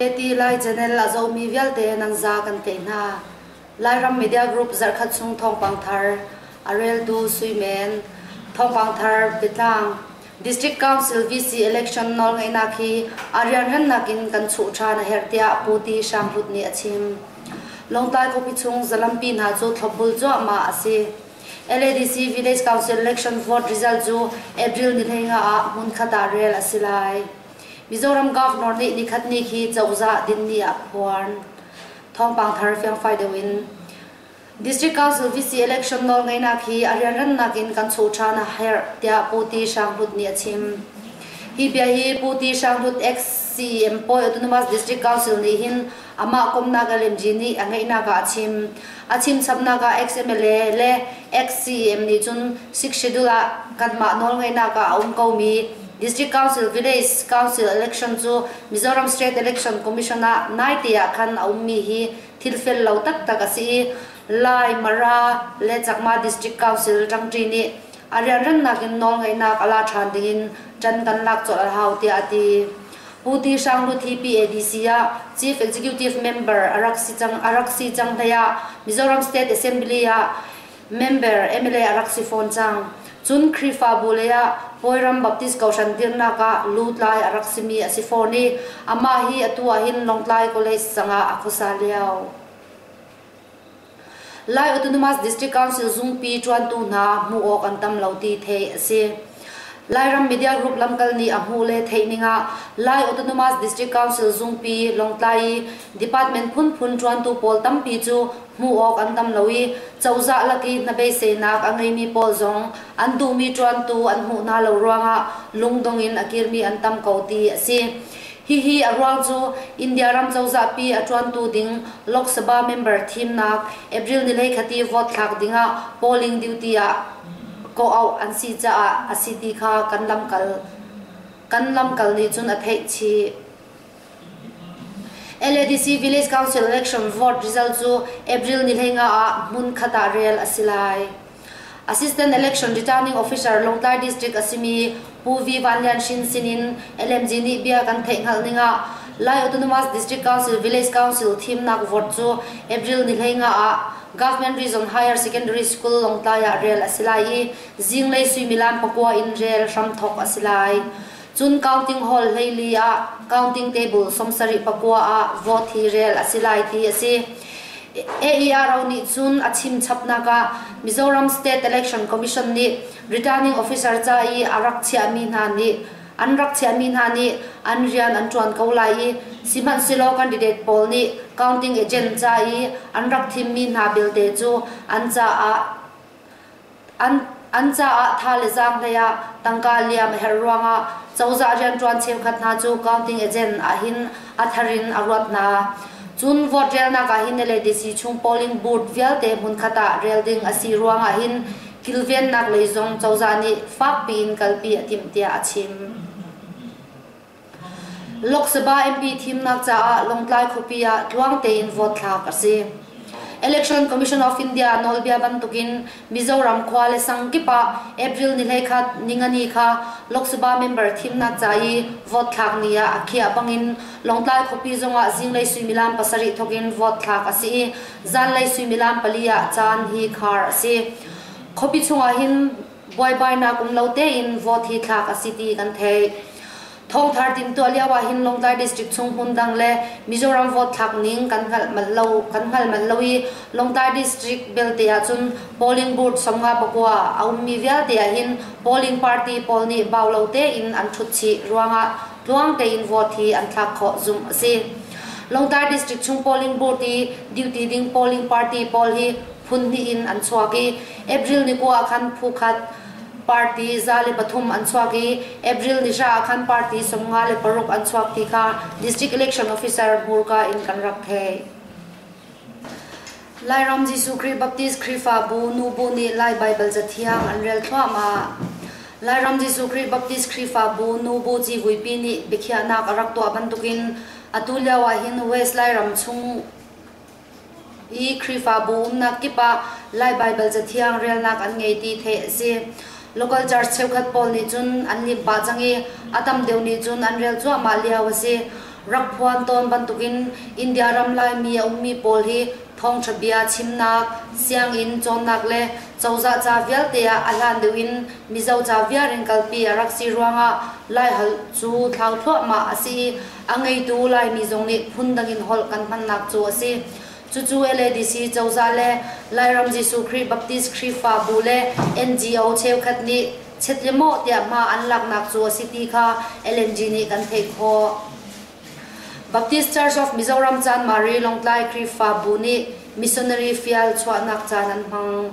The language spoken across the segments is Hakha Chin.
Tehti Lai Channel a zomi vialte nan za kan tei hna. Lairam Media Group zarhkhat chung thawngpang thar, a reltu Suimen, thawngpang thar Pitlang, District Council VC election nawl ngeihnak hi a rianremnak in kan chuh ṭhan a herh tiah Pu Ti Hrang Hrut nih a chim. Lawngtlai khuapi chung zalampi hna cu thlopbul cuahmah a si. LADC Village Council Election Vote result cu April ni hleinga ah hmunkhat ah rel a si lai. Mizoram Governor nih nikhat ni khi cozah dinni ah phuan thawngpang thar fiangfai deuh in District Council VC election nawl ngaihnak hi a rianrannak in kan chuh ṭhan a herh tiah Pu Ti Hrang Hlut nih a chim. Hi bia hi Pu Ti Hrang Hlut ex CM Pawi Autonomous District Council nih hin Amah kumnak LNG nih a ngeihnak ah a chim. A chimsamnak ah ex-MLA le ex-CEM nih cun sick schedule ah kanmah nawl ngaihnak ah a um komi District Council Village Council Election cu Mizoram State Election Commission ah naite ah khan a ummi hi thilfel lo taktak a si i Lai, Mara le Chakma District Council ṭangṭi nih a rianrannak in nawlngaihnak a la ṭhan dingin ṭan kan lak colh a hau tiah a ti. Pu Ti Hrang Lut hi PADC ah Chief Executive Member a rak si cang, a rak si cang hleiah Mizoram State Assembly ah member mla a rak si fawn cang. Cun Khrihfabu leiah Bawiram Baptist Kohhran dirnak ah lutlai a rak simi a si fawn i amah hi atu ah hin Lawngtlai College sangah a khuasa lio. Lai Autonomous District Council zungpi ṭuantu hna hmuh awk an tam lo ti theih a si. Lairam media group lamkal nih a hmuh le theih ning ah Lai Autonomous District Council zungpi Lawngtlai i department phunphun ṭuantu pawl tampi cu hmuh awk an tam lo i cozah lak i hnabeiseinak a ngeimi pawl zong an duhmi ṭuantu an hmuh hna lo ruangah lungdong in a kirmi an tam ko ti a si. Hihi a ruang cu India ram cozahpi a ṭuantu ding Lok Sabha member thimnak April ni le khati vote thlak dingah polling duty ah kawh auh an si caah a si ti kha kan lamkal kan lamkal nih cun a theih chih. LADC Village Council election vote result cu April ni leng ah hmun khat ah rel a si lai. Assistant Election Returning Officer Lawngtlai District a simi Pu V Van Lian Shin sinin LMG nih bia kan theih hngalh ning ah Lai Autonomous District Council Village Council thimnak vote cu April ni hlei nga ah Government Region Higher Secondary School Lawngtlai ah rel a si lai i zinglei suimilam pakua in rel hram thawk a si lai. Cun counting hall hleili ah counting table sawmsarih pakua ah vote hi rel a si lai ti a si. AERO nih cun a chim chapnak ah Mizoram State Election Commission nih returning officer ca i a rak chiahmi hna nih an rak chiahmi hna nih an rian an ṭuan ko lai i sihmanhsehlaw candidate pawl nih counting agent ca i an rak thimmi hna belte cu an caah An caah tha le zaang hlei ah tangka liam a herh ruangah cozah rianṭuan cheukhat hna cu counting agent ahhin a thar in a ruat hna. Cun vote relnak ahhin le DC chung polling booth vialte hmunkhat ah rel ding a si ruangah hin kilvennak lei zong cozah nih fakpi in kalpi a timh tiah a chim. Lok Sabha MP thimnak caah Lawngtlai khuapi ah tluang tein vote thlak a si. Election Commission of India nawlbia bantukin Mizoram khua le sang kip ah April ni hleikhat ningani kha Lok Sabha member thimnak ca i vote thlak ni ah a khiah bangin Lawngtlai khuapi zongah zinglei suimilam pasarih thawkin vote thlak a si i zanlei suimilam pali ah caan hi khar a si. Khuapi chungah hin buaibainak um lo tein vote hi thlak a si ti kan theih. Thongthar timtuah lio ah hin Lawngtlai district chung hmun dang le Mizoram vote thlak ning kan hngalh mal lo kan hngal mal lo i Lawngtlai district belte ah cun polling booth songa pakua a ummi vialte ah hin polling party pawl nih bau lo tein an thut chih ruangah tluang tein vote hi an thlak khawh zumh a si. Lawngtlai district chung polling booth i duty ding polling party pawl hi phun hnih in an chuak i April ni kua ah khan phu khat party za le pathum an chuak i April ni hra ah khan party sawmnga le paruk an chuak ti kha district election officer hmurka in kan rak thei. Lairam Jesuh Khrih Baptist Khrihfabu nu bu nih Lai Bible cathiang an rel thluam ah Lairam Jesuh Khrih Baptist Khrihfabu nu bu civuipi nih biakhiahnak a rak tuah bantukin atu lio ah hin West Lairam chung i Khrihfabu umnak kip ah Lai Baibal Cathiang relnak an ngei ti theih a si. Local church cheukhat pawl nih cun an lim pah cang i a tam deuh nih cun an rel cuahmah lio a si. Rak phuan tawn bantukin India ram Laimi a ummi pawl hi thawngṭha bia chimnak, sianginn cawnnak le cozah ca vialte ah a hlan deuh in Mizo ca viar in kalpi a rak si ruangah Laiholh cu thlau thluahmah a si i A ngeitu Laimi zong nih phundang in holh kan hmannak cu a si. Cucu LADC cozah le Lairam Jesuh Khrih Baptist Khrihfabu le NGO cheukhat nih chet le mawh tiah hma an laknak cu a si ti kha LNG nih kan theih khawh. Baptist Church of Mizoram Chan Mari Lawngtlai Khrihfabu nih missionary fial chuahnak caan an hmang.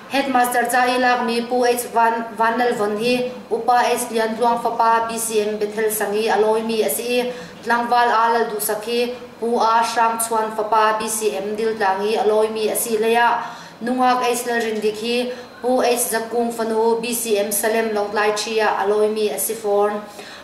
Headmaster ca i lakmi Pu H Van Nal Von hi Upa H Lian Tluang fapa BCM Bethel sang i a lawimi a si i tlangval A Lal Duhsak hi Pu A Hrang Chuan fapa BCM Diltlang i a lawimi a si leiah nungak H Lal Rindik hi Pu H Za Kung fanu BCM Salem Lawngtlai Ṭhi ah a lawimi a si fawn.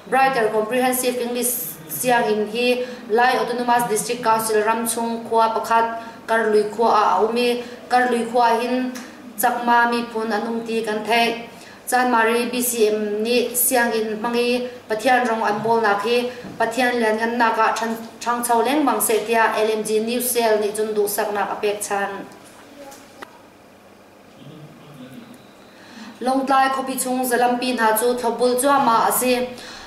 Brighter Comprehensive English Sianginn hi Lai Autonomous District Council ram chung khua pakhat Karlui khua ah a um i Karlui khua hin Chakma miphun an um ti kan theih. Chanmari BCM nih sianginn hmang i Pathian rong an bawlnak hi Pathian lianhngannak ah ṭhangcho lengmang seh tiah LMG News Cell nih cun duhsaknak a pek than. Lawngtlai khuapi chung zalampi hna cu thlawpbul cuahmah a si.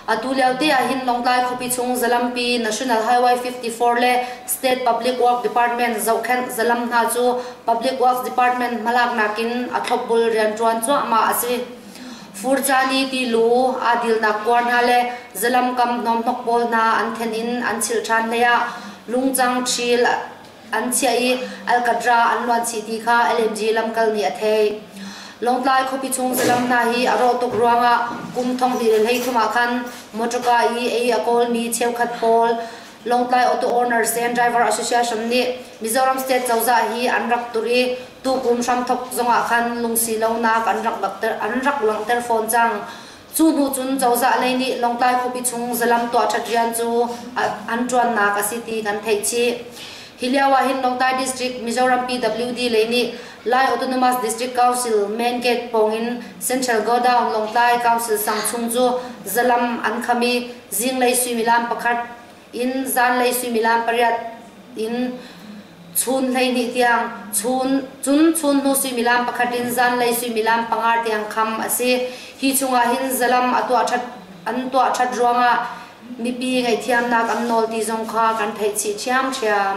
Atu liote ahhin Lawngtlai khuapi chung zalampi National Highway 54 le State Public Works Department zohkhenh zalam hna cu Public Works Department hmalaknak in a thlawpbul rianṭuan cuahmah a si. Furcani ti lu, aa dilnak kuar hna le zalam kam hnawmhnok pawl hna an then in an chilh ṭhan hleiah lungcang ṭhil An chiah i Alcatra an luan chih ti kha LMG lamkal nih a theih. Lawngtlai khuapi chung saram hna hi a rawh tuk ruangah kum thongli le hlei thum ah khan motorka i ei a kawlmi cheukhat pawl Lawngtlai Auto Owners and Driver Association nih Mizoram State cozah hi an rak turh i tukum hramthok zongah khan lungsi lonak an rak langhter an rak langhter fawn cang. Cu hnu cun cozah lei nih Lawngtlai khuapi chung zalam tuahṭhat rian cu an ṭuannak a si ti kan theih chih. Hi lio ah hin Lawngtlai District Mizoram PWD lei nih Lai Autonomous District Council Main Gate pawng in Central Godown Lawngtlai Council sang chung cu zalam an kham i zinglei suimilam pakhat in zanlei suimilam pariat in chun hleihnih tiang chun cun chun hnu suimilam pakhat in zanlei suimilam panga tiang kham a si hi chungah hin zalam a tuah that an tuah that ruangah mipi ngaihthiamnak an nawl ti zong kha kan theih chih ṭhiamṭhiam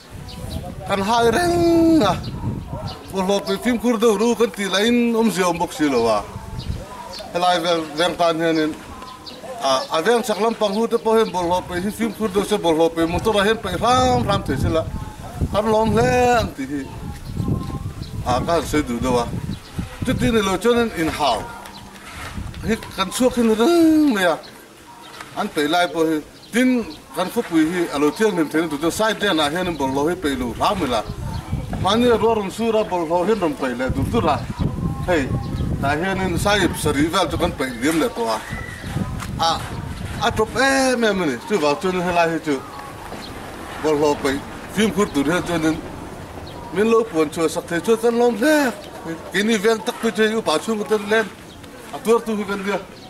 Kan hah i reng a kawhlawt nih fimkhur deuh ru kan ti lai in um cio um bok si lo a. Helai vengtan hian in a veng chak lampang hu te po hen bol hlo pe hin fimkhur deuh se bol hlo pe motor a hen pe hram hram te sila an lom hle an ti hi a kan se du do a cuti ni lo chon in in hau hi kan chuak hin reng mai a an tei lai po hi tin kan khupui hi alo thiang hnem thein tu tu sai ten ah hian bol lo hi pe lu hram la mani ro ron su ra bol lo hin ron pe le dur dur ra hei ta hian in sai sari val chu kan pe liam le to a a a top em em ni chu val chun he lai hi chu bol lo pe phim khur tur he chun in min lo puan chua sak the chua tan lom hle kini vel tak pe che u pa chung tan len a tuar tu hi kan dia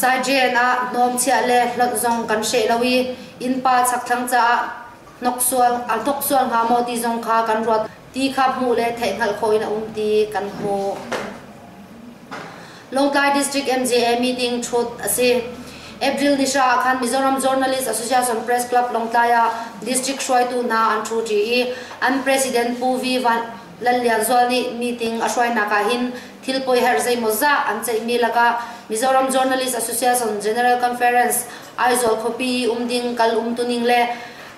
Saijen ah hnawmchiah le hlonh zong kan hreh lo i innpa chakthlang caah a hnoksual hnga maw ti zong kha kan ruat ti kha hmuh le theihhngalh khawh in a um ti kan hmuh. Lawngtlai District MJA meeting thut a si. April ni hra ah khan Mizoram Journalist Association Press Club Lawngtlai ah district hruaitu hna an thu ṭi i an president Pu V. Lallianzual nih meeting a hruainak ah hin thil poi herh zeimawzah an ceihmi lakah Mizoram Journalist Association General Conference Aizawl khuapi um ding kal umtuning le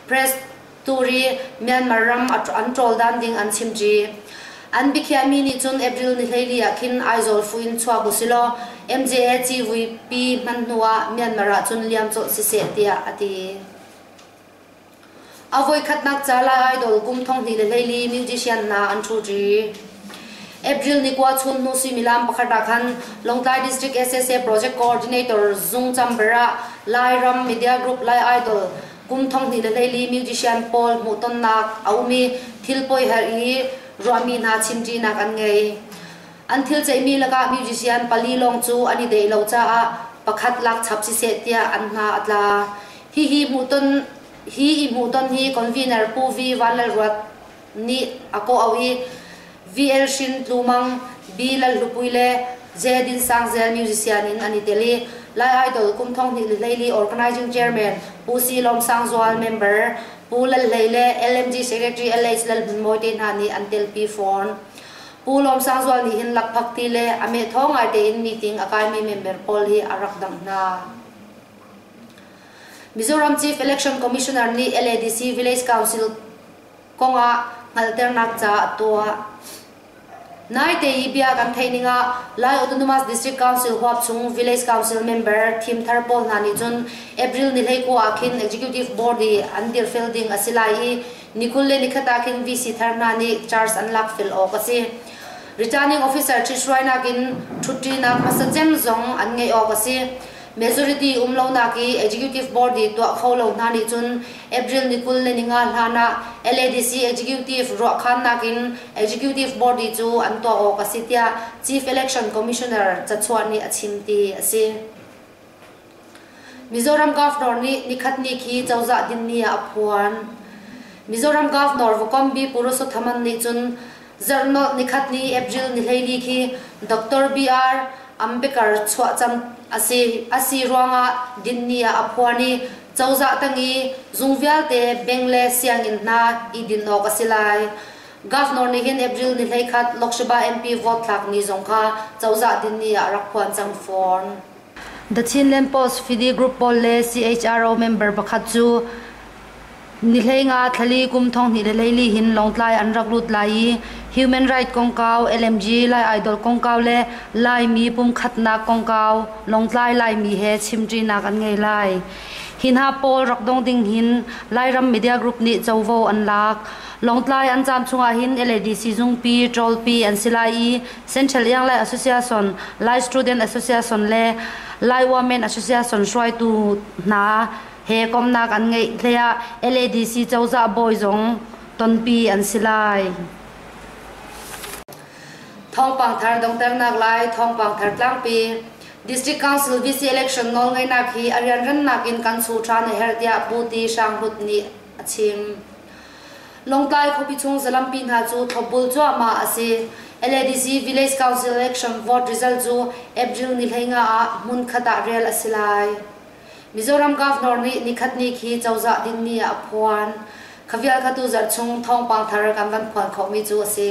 press turi Myanmar ram an ṭawldan ding an chimṭi. An biakhiami nih cun April ni hleili ah khin Aizawl fu in chuak usilaw MJA civui pi hman hnuah Myanmar ah cun liam colh siseh tiah a ti. A voikhatnak ca Lai Idol kum thonghnih le hleili musician hna an ṭhuṭi. April ni kua chun hnu suimilam pakhat ah khan Lawngtlai District SSA Project Coordinator Zung Chamber ah Lairam Media Group Lai Idol kum thonghnih le hleili musician pawl hmuhtonnak a um i thil poi hal i ruahmi hna chimṭinak an ngei. An thil ceihmi lakah musician pali lawng cu an i deh lo caah pakhat lak chap siseh tiah an hna a tla. Hi i hmuhton hi convener Pu V. Vanlalruat nih a kawh auh i VL Hrin Tlu Mang, B. Lalhlupui le J. Din Sang Zel musician in an i tel i Lai Idol kum thong hnih hleili organizing chairman Pu C. Lawm Sang Zual member Pu Lal Hlei le LMG secretary LH Lalhmunmawi te hna nih an telpi fawn. Pu Lawm Sang Zual nih hin lakphakti le a meh thawng ngaite in meeting a kaimi member pawl hi a rak dangh hna. Mizoram Chief Election Commissioner nih LADC Village Council kong ah hngalhternak ca a tuah. Naite i bia kan theih ning ah Lai Autonomous District Council huapchung Village Council member thimthar pawl hna nih cun April ni hlei kua ah khin Executive Board i an dirfel ding a si lai i nikul le nikhat ah khin VC thar hna nih charge an lak fel awk a si. Returning officer ṭhit hruainak in ṭhutṭinak hmasa cem zong an ngeih awk a si. Majority um lonak i Executive Board i tuah kho lo hna nih cun April ni kul le ni nga hlan ah LADC Executive ruahkhannak in Executive Board i cu an tuah awk a si tiah Chief Election Commissioner cachuan nih a chim ti a si. Mizoram Governor nih nikhatni khi cozah dinni ah a phuan. Mizoram Governor Vukombi Purusothaman nih cun Zarhnawh nikhatni April nihlei khi Doctor BR Ambedkar chuahcam a si ruangah dinni ah a phuan i cozah tang i zung vialte bank le sianginn hna i din awk a si lai. Governor nih hin April ni hlei khat Lok Sabha MP vote thlak ni zong kha cozah dinni ah rak phuan cang fawn. The Chinland Post fidi group pawl le CHRO member pakhat cu Nihleinga thlali kum thonghnih le leili hin Lawngtlai an rak lut lai i Human Rights kongkau LMG Lai Idol kongkau le Laimi pumkhatnak kongkau Lawngtlai Laimi he chimṭinak an ngei lai. Hi hna pawl rak dong ding hin Lairam media group nih covo an lak. Lawngtlai an caan chungah hin LADC zungpi, ṭawlpi an si lai i Central Iang Lai Association, Lai Student Association le Lai Women Association hruaitu hna he komnak an ngeih hleiah LADC cozah bawi zong tonpi an si lai. Thawngpang thar dongternak lai thawngpang thar tlangpi. District Council VC election nawlngeihnak hi a rianrannak in kan su ṭhan a herh tiah Pu Ti Hrang Hut nih a chim. Longtlai khuapi chung zalampi hna cu thlopbul cuahmah a si. LADC Village Council Election vote result cu April ni hleinga ah hmun khat ah rel a si lai. Mizoram Governor nih nikhat ni khi cozah dinmi ah a phuan. Khavial khatu zarh chung thawngpang thar kan van phuan khawhmi cu a si.